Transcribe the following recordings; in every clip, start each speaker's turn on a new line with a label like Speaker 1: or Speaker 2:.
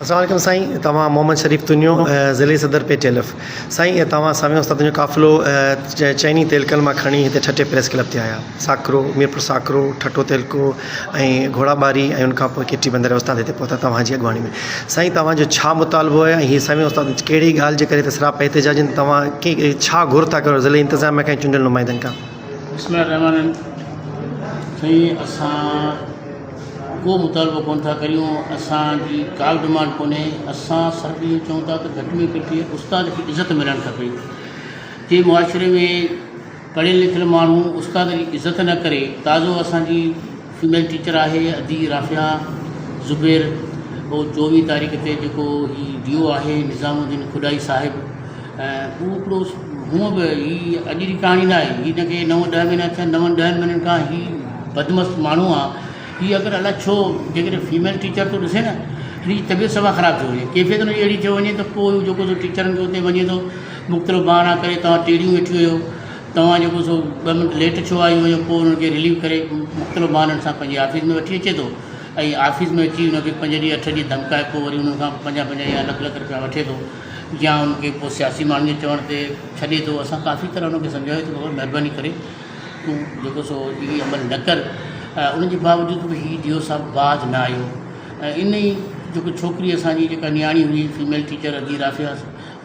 Speaker 1: السلام عليڪم سائين توهان محمد شريف تنيو ضلعي صدر پي ٽي ايل ايف سائين توهان سامي استاد تنيو قافلو چئني تيلڪن مان کڻي هتي ٺٽي پريس ڪلب تي آيا ساڪرو ميرپور ساڪرو ٺٽو تيلڪو ۽ گهوڙا ٻاري ۽ ان کان پوء ڪيٽي بندر استاد هتي پهتا توهان جي اڳواڻي ۾ سائين توهان جو ڇا مطالبو آهي ۽ هي سامي استاد ڪهڙي ڳالهه جي ڪري هتي سراپا احتجاجين توهان ڪي ڇا گهر ٿا ڪريو ضلعي انتظاميه کان چونڊيل نمائندن کان بسم الله الرحمن الرحيم سائين اسان
Speaker 2: ڪو مطالبو ڪونه ٿا ڪريون اسان جي ڪا به ڊمانڊ ڪونهي اسان صرف اهو چئون ٿا ته گهٽ ۾ گهٽ استاد کي عزت ملڻ کپي جي معاشري ۾ پڙهيل لکيل ماڻهو استاد جي عزت نه ڪري تازو اسان جي فيميل ٽيچر آهي ادي رافيا زبير هو چوويهه تاريخ تي جيڪو هي ڊيو آهي نظام الدين کڏائي صاحب ۽ هو هڪڙو هونء به هي اڄ جي ڪهاڻي ناهي هي نه ڪي نو ڏهه مهينا ٿيا نون ڏهن مهينن کان هي بدمست ماڻهو آ هي اگر الاء ڇو جيڪڏهن فيميل ٽيچر ٿو ڏسي نه هن جي طبيعت سفا خراب ٿي وڃي ڪيفيت هن جي اهڙي ٿي وڃي ته پوء جيڪو سو ٽيچرن کي اتي وڃي ٿو مختلف بهانا ڪري توهان ٽيڙيون ويٺي هيو توهان جيڪو سو ٻه منٽ ليٽ ڇو آيون هيو پوء هنن کي رليف ڪري مختلف بهانن سان پنهنجي آفيس ۾ وٺي اچي ٿو ۽ آفيس ۾ اچي هن کي پنج ڏينهن اٺ ڏينهن ڌمڪائي پوء وري هنن کان پنجاهه پنجاهه يا لک لک رپيا وٺي ٿو يا ان کي ڪو سياسي ماڻهن جي چوڻ تي ڇڏي ٿو اسان ڪافي طرح ان کي سمجهايو ته بابا مهرباني ڪري تون جيڪو سو هي عمل نه ڪر ان جي باوجود به هي جيو صاحب باز نه آيو ان ئي جيڪو ڇوڪري اسان جي جيڪا نياڻي هئي فيميل ٽيچر ادي رافيا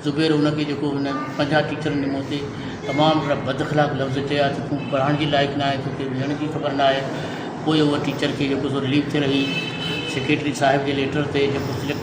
Speaker 2: زبير ان کي جيڪو هن پنجاهه ٽيچرن جي مون تي تمام اهڙا بد اخلاق لفظ چيا ته تون پڙهائڻ جي لائق نه آهي توکي ويهڻ جي خبر نه آهي پوء هو ٽيچر کي جيڪو سو رليف ٿي رهي سيڪريٽري صاحب جي ليٽر تي جيڪو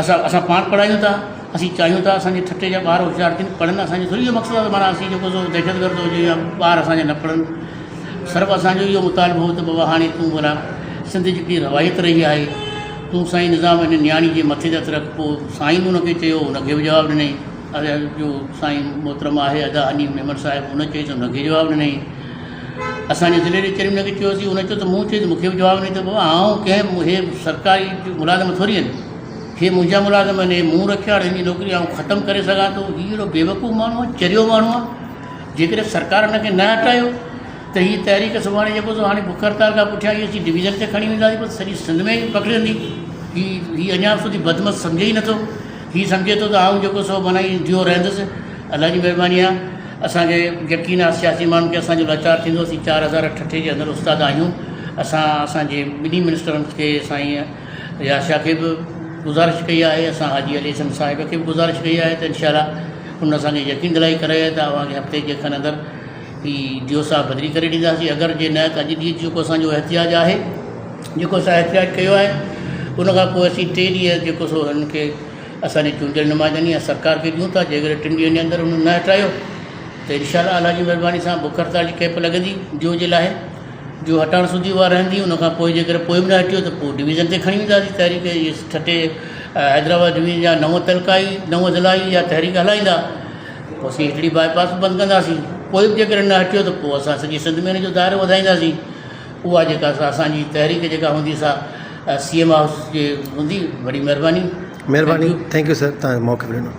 Speaker 2: اسان اسان پاڻ پڙهايون ٿا اسين چاهيون ٿا اسان جي ٺٽي جا ٻار هوشيار ٿين پڙهن اسان جو ٿوري اهو مقصد آهي معنيٰ اسين جيڪو سو دهشت گرد هجي يا ٻار اسان جا نه پڙهن صرف اسان جو اهو مطالبو هو ته بابا هاڻي تون ڀلا سنڌ جي ڪي روايت رهي آهي تون سائين نظام هن نياڻي جي مٿي تي هٿ رک پوء سائين به ان کي چيو ان کي به جواب ڏنائين اري جو سائين محترم آهي ادا حنيف ميمڻ صاحب ان چيس ان کي جواب ڏنائين اسان جي ضلعي جي چيئرمين کي چيوسين، هن چيو ته مون چيس مون کي به جواب ناهي ته بابا آئون ڪنهن هي سرڪاري ملازم ٿوري آهن، هي منهنجا ملازم آهن، هي مون رکيا آهن، هن جي نوڪري آئون ختم ڪري سگهان ٿو، هي اهڙو بيوقوف ماڻهو آهي، چريو ماڻهو آهي، جيڪڏهن سرڪار هن کي نه هٽايو ته هي تحريڪ سڀاڻي جيڪو سو هاڻي بک هڙتال کان پٺيان هي اسين ڊويزن تي کڻي وينداسين، سڄي سنڌ ۾ پکڙيندي، هي هي اڃا سوڌي بدمست سمجهي ئي نٿو. هي سمجهي ٿو ته آئون جيڪو سو بنائي ڊيو رهندس. الله جي مهرباني آهي. اسان کي يقين آهي سياسي ماڻهن کي اسان جو لاچار ٿيندو. اسين چار هزار ٺٽي جي اندر استاد آهيون. اسان اسان جي ٻنهي منسٽرن کي سائين اياز شاهه کي به گذارش ڪئي آهي. اسان حاجي علي حسن صاحب کي به گذارش ڪئي آهي ته انشاء الله انهن اسان کي يقين دلائي ڪرائي آهي ته اوهان کي هفتي جي کن اندر هي جيو صاحب بدلي ڪري ڏينداسين اگر جي نه ته اڄ ڏينهن جيڪو اسان جو احتجاج آهي جيڪو اسان احتجاج ڪيو آهي ان کان پوء اسين ٽي ڏينهن جيڪو سو هن کي اسان جي چونڊيل نمائندن يا سرڪار کي ڏيون ٿا جيڪڏهن ٽن ڏينهن جي اندر انهن نه هٽايو ته انشاء الله الله جي مهرباني سان بک هڙتال جي ڪيمپ لڳندي جيو جي لاء جو هٽائڻ سوڌي اها رهندي ان کان پوء جيڪڏهن پوء به نه هٽيو ته پوء ڊويزن تي کڻي وينداسين تحريڪ ٺٽي حيدرآباد ڊويزن جا نو تعلقا آهي نو ضلعا آهي اها تحريڪ هلائيندا پوء اسين هيٺڙي باء پاس به بند ڪنداسين، پوء به جيڪڏهن نه هٽيو ته پوء اسان سڄي سنڌ ۾ ان جو دائرو وڌائينداسين. اها جيڪا سا اسان جي تحريڪ جيڪا هوندي سا سي ايم هائوس جي
Speaker 1: هوندي.
Speaker 2: وڏي مهرباني.
Speaker 1: مهرباني ٿينڪ يو سر
Speaker 2: تهان
Speaker 1: موقعو
Speaker 2: ڏنو.